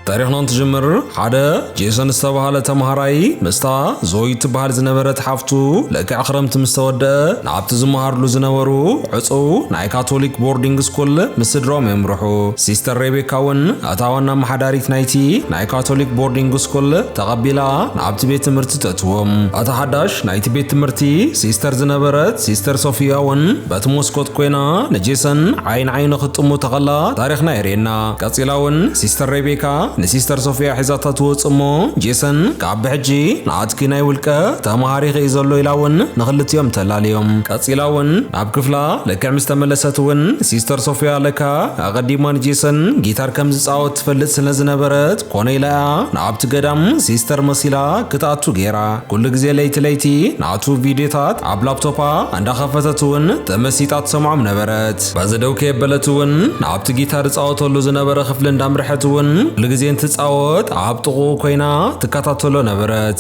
ታሪኽና እንትጅምር ሓደ ጄሰን ዝተባሃለ ተምሃራይ ምስታ ዞይ ትበሃል ዝነበረት ሓፍቱ ልክዕ ክረምቲ ምስ ተወድአ ናብቲ ዝመሃርሉ ዝነበሩ ዕፁው ናይ ካቶሊክ ቦርዲንግ ስኩል ምስ ስድራኦም የምርሑ ሲስተር ሬቤካ እውን እታ ዋና ኣመሓዳሪት ናይቲ ናይ ካቶሊክ ቦርዲንግ ስኩል ተቐቢላ ናብቲ ቤት ትምህርቲ ተእትዎም እታ ሓዳሽ ናይቲ ቤት ትምህርቲ ሲስተር ዝነበረት ሲስተር ሶፊያ እውን በቲ ሞስኮት ኮይና ንጄሰን ዓይን ዓይኑ ክትጥሙ ተኸላ ታሪኽና የርእየና ቀጺላ እውን ሲስተር ሬቤካ ንሲስተር ሶፍያ ሒዛታ ትወጽእ እሞ ጄሰን ካብ ብሕጂ ንኣትኪ ናይ ውልቀ ተማሃሪኺ እዩ ዘሎ ኢላ እውን ንኽልቲኦም ተላልዮም። ቀጺላ እውን ናብ ክፍላ ልክዕ ምስ ተመለሰት እውን ሲስተር ሶፍያ ለካ ኣቐዲማ ንጄሰን ጊታር ከም ዝጻወት ትፈልጥ ስለ ዝነበረት ኮነ ኢላ እያ ናብቲ ገዳም ሲስተር መሲላ ክትኣቱ ገይራ። ኩሉ ግዜ ለይቲ ለይቲ ናቱ ቪድዮታት ኣብ ላፕቶፓ እንዳኸፈተት እውን ተመሲጣ ትሰምዖም ነበረት። በዚ ደው ከየበለት እውን ናብቲ ጊታር ዝጻወተሉ ዝነበረ ክፍሊ እንዳምርሐት እውን ኩሉ ግዜ እንትጻወት ኣብ ጥቕኡ ኮይና ትከታተሎ ነበረት።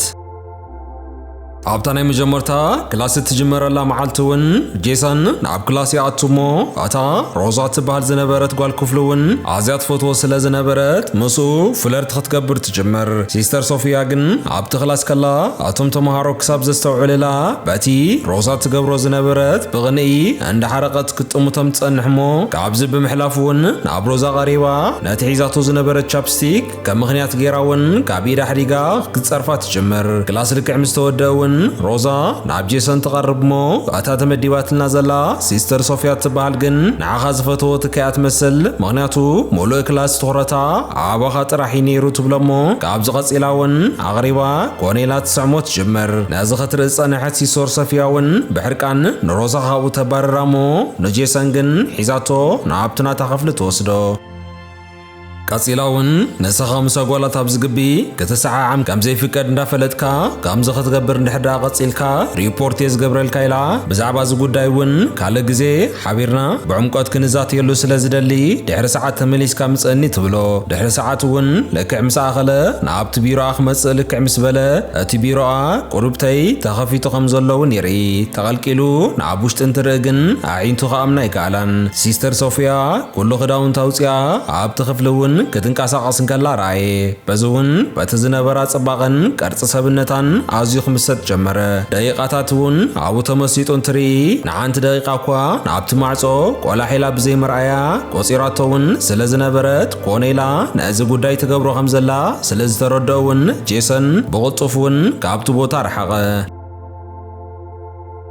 ኣብታ ናይ መጀመርታ ክላስ እትጅመረላ መዓልቲ እውን ጄሰን ናብ ክላስ ይኣቱ እሞ እታ ሮዛ እትበሃል ዝነበረት ጓል ክፍሉ እውን ኣዝያ ትፈትዎ ስለ ዝነበረት ምስኡ ፍለርት ክትገብር ትጅምር። ሲስተር ሶፊያ ግን ኣብቲ ክላስ ከላ እቶም ተመሃሮ ክሳብ ዘስተውዕልላ በቲ ሮዛ እትገብሮ ዝነበረት ብቕንኢ እንዳሓረቐት ክትጥምቶም ትጸንሕ እሞ ካብዚ ብምሕላፍ ውን ናብ ሮዛ ቀሪባ ነቲ ሒዛቶ ዝነበረት ቻፕስቲክ ከም ምኽንያት ጌራ ውን ካብ ኢዳ ኣሕዲጋ ክትጸርፋ ትጅምር። ክላስ ልክዕ ምስ ተወድኣ ውን ሮዛ ናብ ጄሰን ትቐርብ እሞ እታ ተመዲባትልና ዘላ ሲስተር ሶፍያ እትበሃል ግን ንዓኻ ዝፈተዎ ትካያ ትመስል ምኽንያቱ ምሉእ ክላስ ትኹረታ ኣባኻ ጥራሕ እዩ ኔሩ ትብሎ እሞ ካብዚ ቀጺላ ውን ኣቕሪባ ኮኔላ ትስዕሞ ትጅምር። ነዚ ክትርኢ ዝጸንሐት ሲሶር ሰፊያ'ውን ብሕርቃን ንሮዛ ካብኡ ተባርራ እሞ ንጄሰን ግን ሒዛቶ ናብቲ ናታ ክፍሊ ትወስዶ። ቀጺላ'ውን ንስኻ ምስ ኣጓላት ኣብዚ ግቢ ክትሰዓዓም ከም ዘይፍቀድ እንዳፈለጥካ ከምዚ ክትገብር እንድሕር ደኣ ቀጺልካ ሪፖርት'የ ዝገብረልካ ኢላ ብዛዕባ እዚ ጉዳይ'ውን ካልእ ግዜ ሓቢርና ብዕምቆት ክንዛትየሉ ስለ ዝደሊ ድሕሪ ሰዓት ተመሊስካ ምጸኒ ትብሎ። ድሕሪ ሰዓት እውን ልክዕ ምስ ኣኸለ ንኣብቲ ቢሮኣ ክመጽእ ልክዕ ምስ በለ እቲ ቢሮኣ፣ ቁሩብተይ፣ ተኸፊቱ ከም ዘሎ እውን ይርኢ። ተቐልቂሉ ንኣብ ውሽጢ እንትርኢ ግን ኣዒንቱ ክኣምና ኣይከኣላን። ሲስተር ሶፍያ ኩሉ ክዳውንታ ኣውጺኣ ኣብቲ ክፍሊ እውን ክትንቀሳቐስ እንከላ ረኣየ። በዚ እውን በቲ ዝነበራ ጽባቐን ቅርጺ ሰብነታን ኣዝዩ ክምሰጥ ጀመረ። ደቂቓታት እውን ኣብኡ ተመሲጡ እንትርኢ፣ ሓንቲ ደቂቃ እኳ ኣብቲ ማዕጾ ቆላሕ ኢላ ብዘይ ምርኣያ ቆጺራቶ እውን ስለ ዝነበረት ኮነ ኢላ ነዚ ጉዳይ ትገብሮ ከም ዘላ ስለ ዝተረድኦ እውን ጄሰን ብቕልጡፍ እውን ካብቲ ቦታ ረሓቐ።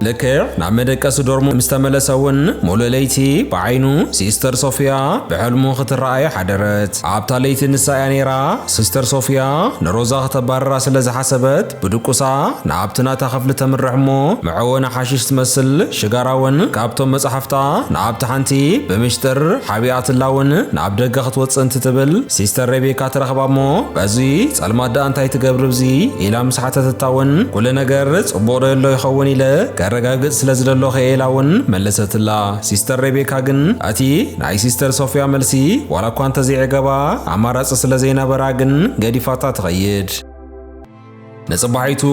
ልክዕ ናብ መደቀሲ ዶርሙ ምስ ተመለሰ እውን ሙሉእ ለይቲ ብዓይኑ ሲስተር ሶፊያ ብሕልሙ ክትረኣየ ሓደረት። ኣብታ ለይቲ ንሳ እያ ነይራ ሲስተር ሶፊያ ንሮዛ ክተባርራ ስለ ዝሓሰበት ብድቁሳ ንኣብቲ ናታ ክፍሊ ተምርሕ እሞ መዐወኒ ሓሺሽ ትመስል ሽጋራ እውን ካብቶም መጻሕፍታ ንኣብቲ ሓንቲ ብምሽጥር ሓቢኣትላ እውን ናብ ደገ ክትወጽእ እንትትብል ሲስተር ሬቤካ ትረኽባ እሞ በዚ ጸልማት ደኣ እንታይ ትገብሪ ብዚ ኢላ ምስ ሓተተታ እውን ኩሉ ነገር ጽቡቕ ዶ የሎ ይኸውን ኢለ ከረጋግጽ ስለ ዝደለኹ እየ ኢላ እውን መለሰትላ ሲስተር ሬቤካ ግን እቲ ናይ ሲስተር ሶፍያ መልሲ ዋላ እኳ እንተዘይዕገባ ኣማራጺ ስለ ዘይነበራ ግን ገዲፋታ ትኸይድ ንጽባሒቱ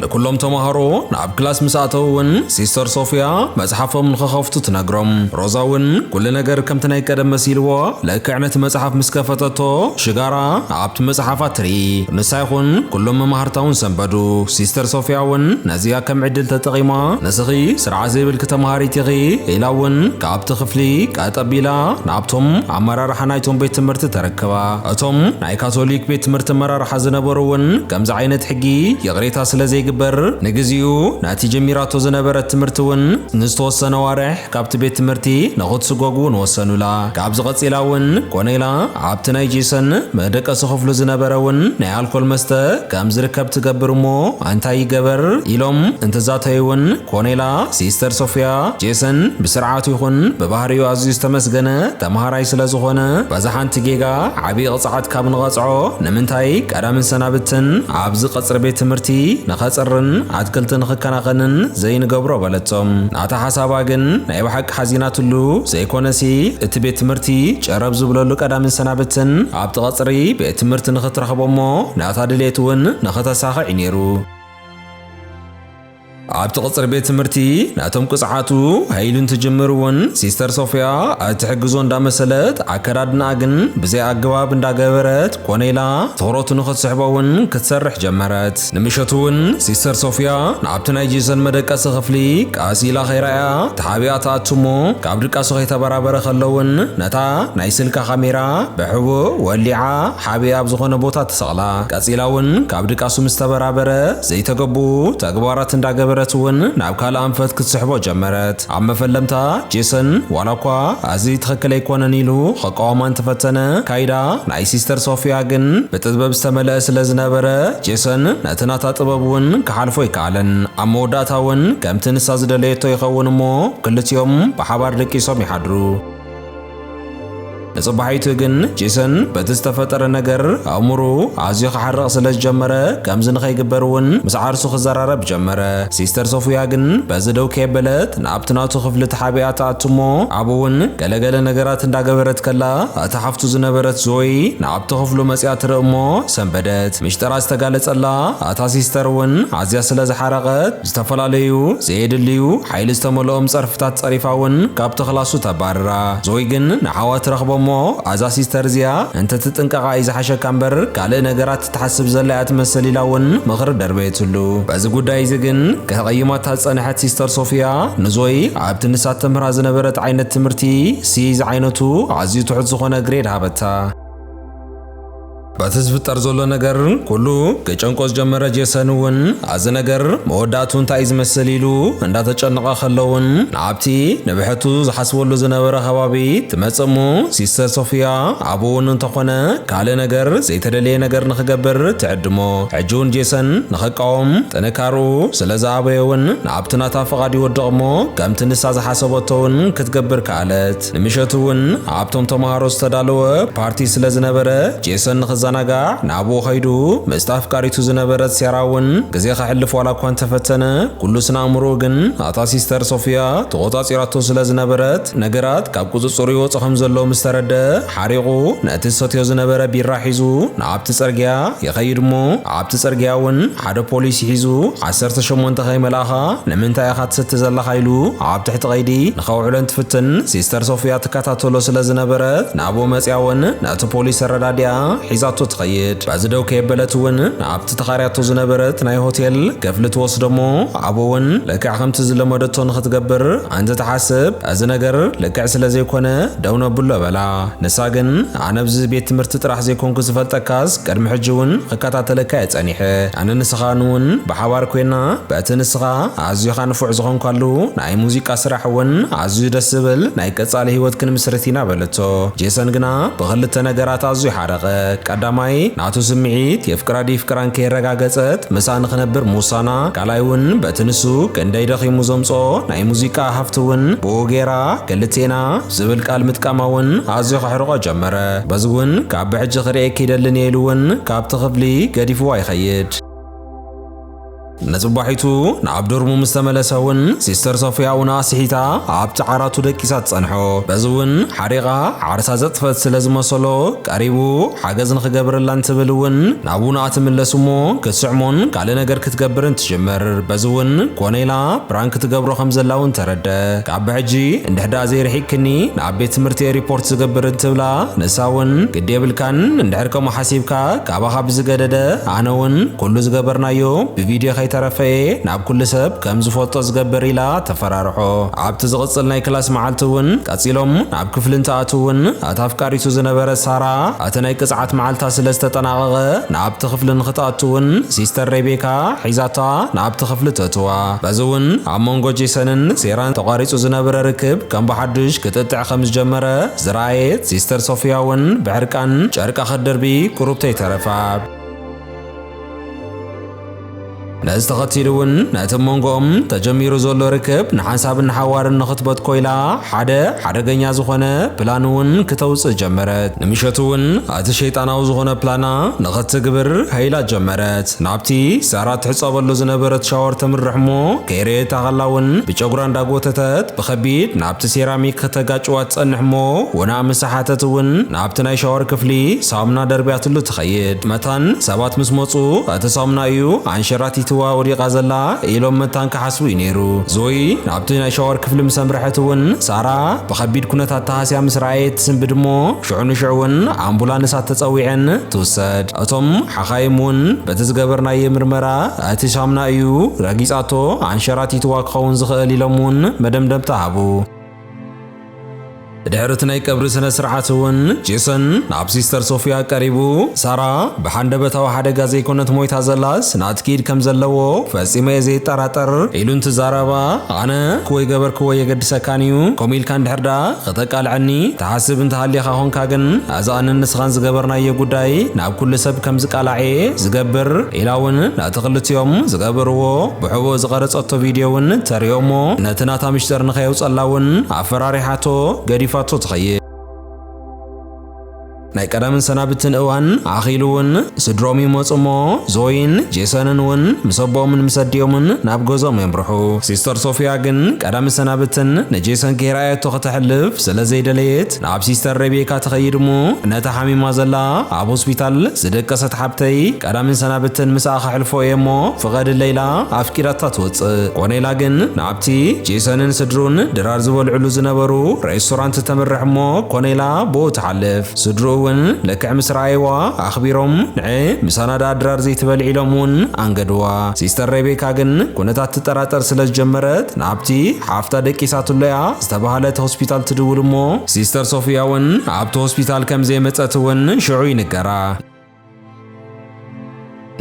ንኩሎም ተማሃሮ ናብ ክላስ ምስ ኣተው እውን ሲስተር ሶፊያ መጽሓፎም ንኸኸፍቱ ትነግሮም። ሮዛ እውን ኩሉ ነገር ከምቲ ናይ ቀደም መሲልዎ ልክዕ ነቲ መጽሓፍ ምስ ከፈተቶ ሽጋራ ኣብቲ መጽሓፋ ትርኢ። ንሳ ይኹን ኩሎም መማህርታ እውን ሰንበዱ። ሲስተር ሶፊያ እውን ነዚኣ ከም ዕድል ተጠቒማ ንስኺ ስርዓት ዘይብልኪ ተማሃሪት ኢኺ ኢላ እውን ካብቲ ክፍሊ ቀጥ ኣቢላ ናብቶም ኣመራርሓ ናይቶም ቤት ትምህርቲ ተረከባ። እቶም ናይ ካቶሊክ ቤት ትምህርቲ ኣመራርሓ ዝነበሩ እውን ከምዚ ዓይነት ሕጊ ይቕሬታ ስለ ዘይግበር ንግዚኡ ነቲ ጀሚራቶ ዝነበረት ትምህርቲ እውን ንዝተወሰነ ኣዋርሕ ካብቲ ቤት ትምህርቲ ንኽትስጎግ እውን ወሰኑላ። ካብዚ ቀጺላ እውን ኮነ ኢላ ኣብቲ ናይ ጄሰን መደቀሲ ክፍሉ ዝነበረ እውን ናይ ኣልኮል መስተ ከም ዝርከብ ትገብር እሞ እንታይ ይገበር ኢሎም እንትዛተዩ እውን ኮነ ኢላ ሲስተር ሶፍያ ጄሰን ብስርዓቱ ይኹን ብባህሪኡ ኣዝዩ ዝተመስገነ ተማሃራይ ስለ ዝኾነ እዛ ሓንቲ ጌጋ ዓብዪ ቕፅዓት ካብ ንቐፅዖ ንምንታይ ቀዳምን ሰናብትን ኣብዚ ቐፅሪ ቤት ትምህርቲ ንኸፅርን ኣትክልቲ ንኽከናኸንን ዘይንገብሮ በለቶም ናታ ሓሳባ ግን ናይ ብሓቂ ሓዚናትሉ ዘይኮነሲ እቲ ቤት ትምህርቲ ጨረብ ዝብለሉ ቀዳምን ሰናብትን ኣብቲ ቐፅሪ ቤት ትምህርቲ ንኽትረኽቦ እሞ ናታ ድሌት እውን ንኽተሳኽዕ እዩ ነይሩ ኣብቲ ቅጽሪ ቤት ትምህርቲ ነቶም ቅጽዓቱ ሃይሉ እንትጅምር እውን ሲስተር ሶፍያ እትሕግዞ እንዳመሰለት ኣከዳድናኣ ግን ብዘይ ኣገባብ እንዳገበረት ኮነ ኢላ ትኹረቱ ንኽትስሕቦ እውን ክትሰርሕ ጀመረት። ንምሸቱ እውን ሲስተር ሶፍያ ናብቲ ናይ ጄሰን መደቀሲ ክፍሊ ቀስ ኢላ ከይረኣያ ተሓቢኣ ትኣቱ እሞ ካብ ድቃሱ ከይተበራበረ ከሎ እውን ነታ ናይ ስልካ ካሜራ ብሕቡእ ወሊዓ ሓቢኣ ኣብ ዝኾነ ቦታ ትሰቕላ። ቀጺላ እውን ካብ ድቃሱ ምስ ተበራበረ ዘይተገቡኡ ተግባራት እንዳገበረት እውን ናብ ካልእ ኣንፈት ክትስሕቦ ጀመረት። ኣብ መፈለምታ፣ ጄሰን ዋላኳ ኣዚ ትኽክል ኣይኮነን ኢሉ ኸቃወማ እንተፈተነ፣ ካይዳ ናይ ሲስተር ሶፍያ ግን ብጥበብ ዝተመለኣ ስለ ዝነበረ፣ ጄሰን ነቲ ናታ ጥበብ እውን ክሓልፎ ኣይከኣለን። ኣብ መወዳእታ እውን ከምቲ ንሳ ዝደለየቶ ይኸውን እሞ ክልቲኦም ብሓባር ደቂሶም ይሓድሩ። ንጽባሒቱ ግን ጄሰን በቲ ዝተፈጠረ ነገር ኣእምሩ ኣዝዩ ክሓርቕ ስለ ዝጀመረ ከምዚ ንኸይግበር እውን ምስ ዓርሱ ክዘራረብ ጀመረ። ሲስተር ሶፍያ ግን በዚ ደው ከየበለት ናብቲ ናቱ ክፍሊ ተሓቢኣ ትኣቱ እሞ ኣብኡ እውን ገለገለ ነገራት እንዳገበረት ከላ እታ ሓፍቱ ዝነበረት ዞይ ናብቲ ክፍሉ መጽያ ትርኢ እሞ ሰንበደት። ምሽጠራ ዝተጋለጸላ እታ ሲስተር እውን ኣዝያ ስለ ዝሓረቐት ዝተፈላለዩ ዘየድልዩ ሓይሊ ዝተመልኦም ጸርፍታት ጸሪፋ ውን ካብቲ ክላሱ ተባርራ። ዞይ ግን ንዓዋት ረኽቦ እሞ ኣዛ ሲስተር እዚኣ እንተትጥንቀቓ እዩ ዝሓሸካ እምበር ካልእ ነገራት ትሓስብ ዘላ እያ ትመስል ኢላ ውን ምኽሪ ደርበየትሉ። በዚ ጉዳይ እዚ ግን ከቕይማታ ዝጸንሐት ሲስተር ሶፍያ ንዞይ ኣብቲ ንሳ እተምህራ ዝነበረት ዓይነት ትምህርቲ ሲ ዝዓይነቱ ኣዝዩ ትሑት ዝኾነ ግሬድ ሃበታ። በቲ ዝፍጠር ዘሎ ነገር ኩሉ ክጨንቆ ዝጀመረ ጄሰን እውን ኣዚ ነገር መወዳእቱ እንታይ እዩ ዝመስል ኢሉ እንዳተጨነቐ ከሎውን ናብቲ ንብሕቱ ዝሓስበሉ ዝነበረ ከባቢ ትመጽእ እሞ ሲስተር ሶፍያ ኣብኡ እውን እንተኾነ ካልእ ነገር ዘይተደለየ ነገር ንክገብር ትዕድሞ ሕጂ እውን ጄሰን ንክቃወም ጥንካርኡ ስለ ዝኣበየ እውን ናብቲ ናታ ፍቓድ ይወድቕ እሞ ከምቲ ንሳ ዝሓሰበቶ እውን ክትገብር ከኣለት ንምሸቱ እውን ኣብቶም ተምሃሮ ዝተዳለወ ፓርቲ ስለ ዝነበረ ጄሰን ንኽዘናጋዕ ናብኡ ኸይዱ። ምስቲ ኣፍቃሪቱ ዝነበረት ሴራ እውን ግዜ ከሕልፍ ዋላ እኳ እንተፈተነ ኩሉ ስነ ኣእምሮኡ ግን ኣታ ሲስተር ሶፍያ ተቖጻጺራቶ ስለ ዝነበረት ነገራት ካብ ቁጽጽሩ ይወጹ ከም ዘለዉ ምስ ተረድኣ ሓሪቑ ነቲ ዝሰትዮ ዝነበረ ቢራ ሒዙ ናብቲ ጽርግያ ይኸይድ እሞ ኣብቲ ጽርግያ እውን ሓደ ፖሊስ ሒዙ ዓሰርተ ሸሞንተ ከይመልኣኻ ንምንታይ ኢኻ ትስቲ ዘለኻ ኢሉ ኣብ ትሕቲ ቀይዲ ንኸውዕለን ትፍትን ሲስተር ሶፍያ ትከታተሎ ስለ ዝነበረት ናብኡ መጺኣ እውን ነቲ ፖሊስ ተረዳዲኣ ሒዛቶ ትኸይድ። በዚ ደው ከየበለት እውን ናብቲ ተኻርያቶ ዝነበረት ናይ ሆቴል ክፍሊ ትወስዶ እሞ ኣብኡ እውን ልክዕ ከምቲ ዝለመደቶ ንኽትገብር እንትትሓስብ እዚ ነገር ልክዕ ስለ ዘይኮነ ደው ነብሎ በላ። ንሳ ግን ኣነ ኣብዚ ቤት ትምህርቲ ጥራሕ ዘይኮንኩ ዝፈልጠካስ ቅድሚ ሕጂ ውን ኽከታተለካ እየ ጸኒሐ ኣነ ንስኻን ውን ብሓባር ኮይና በቲ ንስኻ ኣዚኻ ንፉዕ ዝኾንካሉ ናይ ሙዚቃ ስራሕ ውን ኣዝዩ ደስ ዝብል ናይ ቀጻሊ ሂወት ክንምስርት ኢና በለቶ ጄሰን ግና ብኽልተ ነገራት ኣዝዩ ሓረቐ ቀዳማይ ናቱ ስምዒት የፍቅራ ደይፍቅራን ከየረጋገጸት ምሳኣ ንኽነብር ምውሳና ካልኣይ ውን በቲ ንሱ ክንደይ ደኺሙ ዘምጽኦ ናይ ሙዚቃ ሃፍቲ ውን ብኡ ጌራ ክልቴና ዝብል ቃል ምጥቃማ እውን ኣዝዩ ከሕርቖ ጀመረ። በዚ እውን ካብ ብሕጂ ክርእየኪ ይደልን እየ ኢሉ እውን ካብቲ ክፍሊ ገዲፍዋ ይኸይድ። ንጽባሒቱ ናብ ዶርሙ ምስ ተመለሰ እውን ሲስተር ሶፍያ እውን ኣስሒታ ኣብቲ ዓራቱ ደቂሳ ትጸንሖ። በዚ እውን ሓሪቓ ዓርሳ ዘጥፈት ስለ ዝመሰሎ ቀሪቡ ሓገዝ ንኽገብረላ እንትብል እውን ናብኡ ንኣትምለስ እሞ ክትስዕሞን ካልእ ነገር ክትገብርን ትጅምር በዚ እውን ኮነ ኢላ ፕራንክ ትገብሮ ከም ዘላ እውን ተረደ ካብ ብሕጂ እንድሕ ድኣ ዘይርሒቅክኒ ንኣብ ቤት ትምህርቲ እየ ሪፖርት ዝገብር እንትብላ ንሳ እውን ግዲ የብልካን እንድሕር ከምኡ ሓሲብካ ካባኻ ብዝገደደ ኣነ እውን ኩሉ ዝገበርናዮ ብቪድዮ ከይተረፈ እየ ናብ ኩሉ ሰብ ከም ዝፈልጦ ዝገብር ኢላ ተፈራርሖ ኣብቲ ዝቕፅል ናይ ክላስ መዓልቲ እውን ቀፂሎም ናብ ክፍሊ እንትኣትው እውን እቲ ኣፍቃሪቱ ዝነበረ ሳራ ኣቲ ናይ ቅጽዓት መዓልታ ስለ ዝተጠናቐቐ ንኣብቲ ክፍሊ ንክትኣቱ ውን ሲስተር ሬቤካ ሒዛታ ንኣብቲ ክፍሊ ተእትዋ። በዚ ውን ኣብ መንጎ ጄሰንን ሴራን ተቋሪጹ ዝነብረ ርክብ ከም ብሓዱሽ ክትእትዕ ከም ዝጀመረ ዝረኣየት ሲስተር ሶፍያ ውን ብሕርቃን ጨርቃ ክትድርቢ ቁሩብ ተይተረፋ። ነዚ ተኸቲሉ እውን ነቲ ብ መንጎኦም ተጀሚሩ ዘሎ ርክብ ንሓንሳብን ንሓዋርን ንኽትበት ኮይላ ሓደ ሓደገኛ ዝኾነ ፕላን እውን ክተውጽእ ጀመረት። ንምሸቱ እውን እቲ ሸይጣናዊ ዝኾነ ፕላና ንኽትግብር ሃይላ ጀመረት። ናብቲ ሳራ ትሕጸበሉ ዝነበረት ሻወር ተምርሕ እሞ ከይረየታ ከላ እውን ብጨጉራ እንዳጎተተት ብኸቢድ ናብቲ ሴራሚክ ከተጋጭዋ ትጸንሕ እሞ ወናእ ምስ ሰሓተት እውን ናብቲ ናይ ሻወር ክፍሊ ሳሙና ደርብያትሉ ኸይድ መታን ሰባት ምስ መጹ እቲ ሳሙና እዩ ኣንሸራቲትዋ ወዲቓ ዘላ ኢሎም መታን ክሓስቡ እዩ ነይሩ። ዞይ ናብቲ ናይ ሻወር ክፍሊ ምስ ኣምርሐት እውን ሳራ ብኸቢድ ኩነታት ተሃስያ ምስ ረኣየት ትስንብድ እሞ ሽዑ ንሽዑ እውን ኣምቡላንሳት ተጸዊዐን ትውሰድ። እቶም ሓኻይም እውን በቲ ዝገበርናዬ ምርመራ እቲ ሳሙና እዩ ረጊጻቶ ኣንሸራቲትዋ ክኸውን ዝኽእል ኢሎም እውን መደምደምታ ሃቡ። ድሕሪ እቲ ናይ ቀብሪ ስነ ስርዓት እውን ጄሰን ናብ ሲስተር ሶፊያ ቀሪቡ ሳራ ብሓንደበታዊ ሓደጋ ዘይኮነት ሞይታ ዘላስ ናት ክኢድ ከም ዘለዎ ፈጺመ እየ ዘይጠራጠር ኢሉ እንትዛረባ ኣነ ክወይ ገበርክዎ የገድሰካን እዩ ከምኡ ኢልካ እንድሕር ደኣ ከተቃልዐኒ ትሓስብ እንተሃሊኻ ኾንካ ግን እዚ ኣንን ንስኻን ዝገበርናዮ ጉዳይ ናብ ኩሉ ሰብ ከም ዝቃላዕ እየ ዝገብር ኢላ እውን ነቲ ክልቲኦም ዝገበርዎ ብሕቡእ ዝቐረጸቶ ቪድዮ እውን ተርእዮ እሞ ነቲ ናታ ምሽጥር ንኸየውጸላ እውን ኣፈራሪሓቶ ገዲፋቶ ትኸይድ። ናይ ቀደምን ሰናብትን እዋን ኣኺሉ እውን ስድሮም ይመጹ እሞ ዞይን ጄሰንን እውን ምስ ኣቦኦምን ምስ ኣዲኦምን ናብ ገዝኦም የምርሑ። ሲስተር ሶፊያ ግን ቀዳምን ሰናብትን ንጄሰን ከይረኣየቶ ከተሕልፍ ስለ ዘይደለየት ናብ ሲስተር ሬቤካ ትኸይድ እሞ ነታ ሓሚማ ዘላ ኣብ ሆስፒታል ዝደቀሰት ሓብተይ ቀዳምን ሰናብትን ምስኣ ከሕልፎ እየ እሞ ፍቐድለይ ኢላ ኣፍቂዳታ ትወጽእ። ኮነ ኢላ ግን ናብቲ ጄሰንን ስድርኡን ድራር ዝበልዕሉ ዝነበሩ ሬስቶራንት ተምርሕ እሞ ኮነ ኢላ ብኡ ትሓልፍ። ስድርኡ እውን ልክዕ ምስ ረኣይዋ ኣኽቢሮም ንዒ ምሳና ደኣ ድራር ዘይትበልዒ ኢሎም እውን ኣንገድዋ። ሲስተር ሬቤካ ግን ኩነታት ትጠራጠር ስለ ዝጀመረት ናብቲ ሓፍታ ደቂሳትሎ እያ ዝተባህለት ሆስፒታል ትድውል እሞ ሲስተር ሶፊያ እውን ኣብቲ ሆስፒታል ከም ዘይመጸት እውን ሽዑ ይንገራ።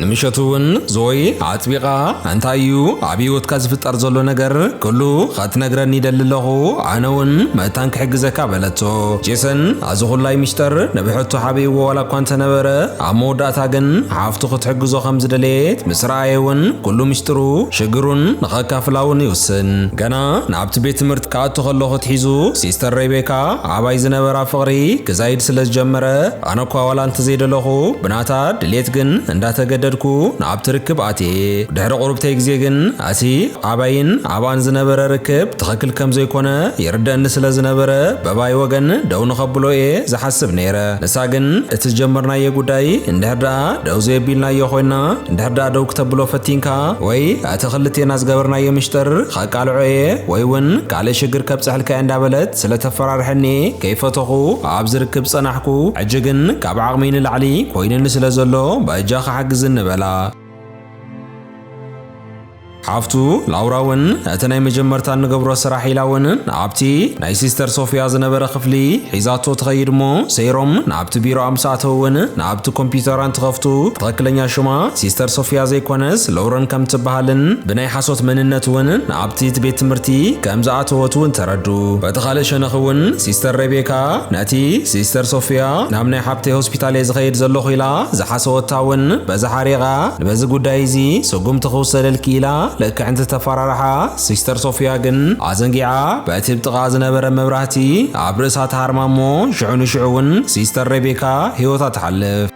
ንምሸቱ እውን ዞይ ኣጥቢቓ እንታይ እዩ ኣብ ህይወትካ ዝፍጠር ዘሎ ነገር ኩሉ ኸትነግረኒ ይደሊ ኣለኹ ኣነ እውን መታን ክሕግዘካ በለቶ። ጄሰን ኣዚ ኹላይ ሚስጥር ንብሕቱ ሓበይዎ ዋላ እኳ እንተነበረ ኣብ መወዳእታ ግን ሓፍቱ ክትሕግዞ ከም ዝደለየት ምስ ረኣየ እውን ኩሉ ሚስጥሩ ሽግሩን ንኸካፍላ እውን ይውስን ገና ኣብቲ ቤት ትምህርቲ ክኣቱ ከለኹ ኣትሒዙ ሲስተር ሬቤካ ኣባይ ዝነበራ ፍቕሪ ክዛይድ ስለ ዝጀመረ ኣነ እኳ ዋላ እንተዘይደለኹ ብናታ ድሌት ግን እንዳተገደድኩ ናብቲ ርክብ ኣትየ። ድሕሪ ቁርብተይ ግዜ ግን ኣቲ ኣባይን ኣባን ዝነበረ ርክብ ትኽክል ከም ዘይኮነ ይርደእኒ ስለ ዝነበረ በባይ ወገን ደው ንኸብሎ እየ ዝሓስብ ነይረ ንሳ ግን እቲ ዝጀመርናዬ ጉዳይ እንድሕር ደኣ ደው ዘየቢልናዮ ኮይና እንድሕር ደኣ ደው ክተብሎ ፈቲንካ ወይ ኣቲ ክልቴና ዝገበርናዬ ምሽጥር ኸቃልዖ እየ ወይ ውን ካልእ ሽግር ከብጽሐልካ እየ እንዳበለት ስለ ተፈራርሐኒ ከይፈተኹ ኣብ ዝርክብ ጸናሕኩ ሕጂ ግን ካብ ዓቕመይ ንላዕሊ ኮይኑኒ ስለ ዘሎ በጃኺ ሓግዝኒ በላ። ሓፍቱ ላውራ ውን እቲ ናይ መጀመርታ እንገብሮ ስራሕ ኢላ ውን ኣብቲ። ናይ ሲስተር ሶፍያ ዝነበረ ክፍሊ ሒዛቶ ትኸይድ እሞ ሰይሮም ናብቲ ቢሮኣ ምስ ኣተው እውን ናብቲ ኮምፒዩተራ እንትኸፍቱ ትኸክለኛ ሽማ ሲስተር ሶፍያ ዘይኮነስ ሎውረን ከም ትበሃልን ብናይ ሓሶት መንነት እውን ናብቲ እቲ ቤት ትምህርቲ ከም ዝኣተወት እውን ተረዱ። በቲ ካልእ ሸነኽ እውን ሲስተር ሬቤካ ነቲ ሲስተር ሶፍያ ናብ ናይ ሓብተይ ሆስፒታል እየ ዝኸይድ ዘለኹ ኢላ ዝሓሰወታ እውን በዚ ሓሪቓ ንበዚ ጉዳይ እዚ ስጉምቲ ክውሰደልኪ ኢላ ልክዕ እንትተፈራርሓ ሲስተር ሶፍያ ግን ኣዘንጊዓ በቲ ብ ጥቓ ዝነበረ መብራህቲ ኣብ ርእሳ ትሃርማ እሞ ሽዑ ንሽዑ እውን ሲስተር ሬቤካ ህይወታ ትሓልፍ።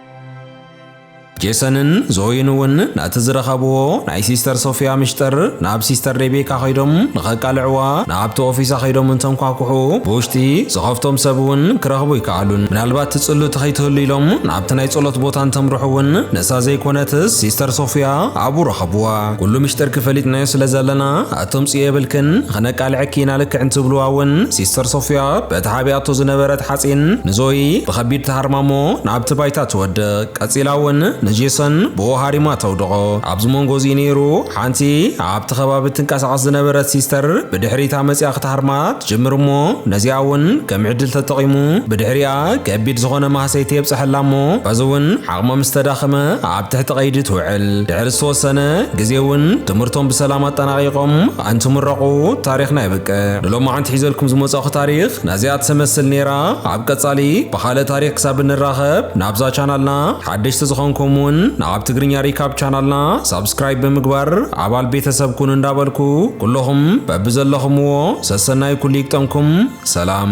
ጄሰንን ዞይን እውን ነቲ ዝረኸብዎ ናይ ሲስተር ሶፍያ ምሽጥር ናብ ሲስተር ሬቤካ ከይዶም ንኸቃልዕዋ ናብቲ ኦፊሳ ከይዶም እንተንኳኩሑ ብውሽጢ ዝኸፍቶም ሰብ እውን ክረኽቡ ኣይከኣሉን። ምናልባት ትጽሉቲ ከይትህሉ ኢሎም ናብቲ ናይ ጸሎት ቦታ እንተምርሑ እውን ንሳ ዘይኮነትስ ሲስተር ሶፍያ ኣብኡ ረኸብዋ። ኩሉ ምሽጥርኪ ፈሊጥናዮ ስለ ዘለና ኣትምጽኢ የብልክን ኸነቃልዐኪ ኢና ልክዕ እንትብልዋ እውን ሲስተር ሶፍያ በቲ ሓቢኣቶ ዝነበረት ሓጺን ንዞኢ ብኸቢድ ትሃርማ እሞ ናብቲ ባይታ ትወድቅ ቀጺላ እውን ንጄሰን ብኡ ሃሪማ ተውድቖ ኣብዚ መንጎ እዚ ነይሩ ሓንቲ ኣብቲ ኸባቢ እትንቀሳቐስ ዝነበረት ሲስተር ብድሕሪታ መጺኣ ክትሃርማ ትጅምር እሞ ነዚኣ እውን ከም ዕድል ተጠቒሙ ብድሕሪኣ ከቢድ ዝኾነ ማህሰይቲ የብጸሐላ እሞ በዚ እውን ዓቕማ ምስ ተዳኸመ ኣብ ትሕቲ ቀይዲ ትውዕል። ድሕሪ ዝተወሰነ ግዜ እውን ትምህርቶም ብሰላም ኣጠናቒቖም እንትምረቑ ታሪኽና የብቅዕ። ንሎማዓንቲ ሒዘልኩም ዝመጻእኹ ታሪኽ ነዚኣ ትሰመስል ነይራ። ኣብ ቀጻሊ ብኻልእ ታሪኽ ክሳብ እንራኸብ ናብዛ ቻናልና ሓደሽቲ ዝኾንኩም እውን ንኣብ ትግርኛ ሪካብ ቻናልና ሳብስክራይብ ብምግባር ኣባል ቤተሰብ ኩኑ እንዳበልኩ ኩሎኹም በብዘለኹምዎ ሰሰናዩ ኩሉ ይግጠምኩም። ሰላም።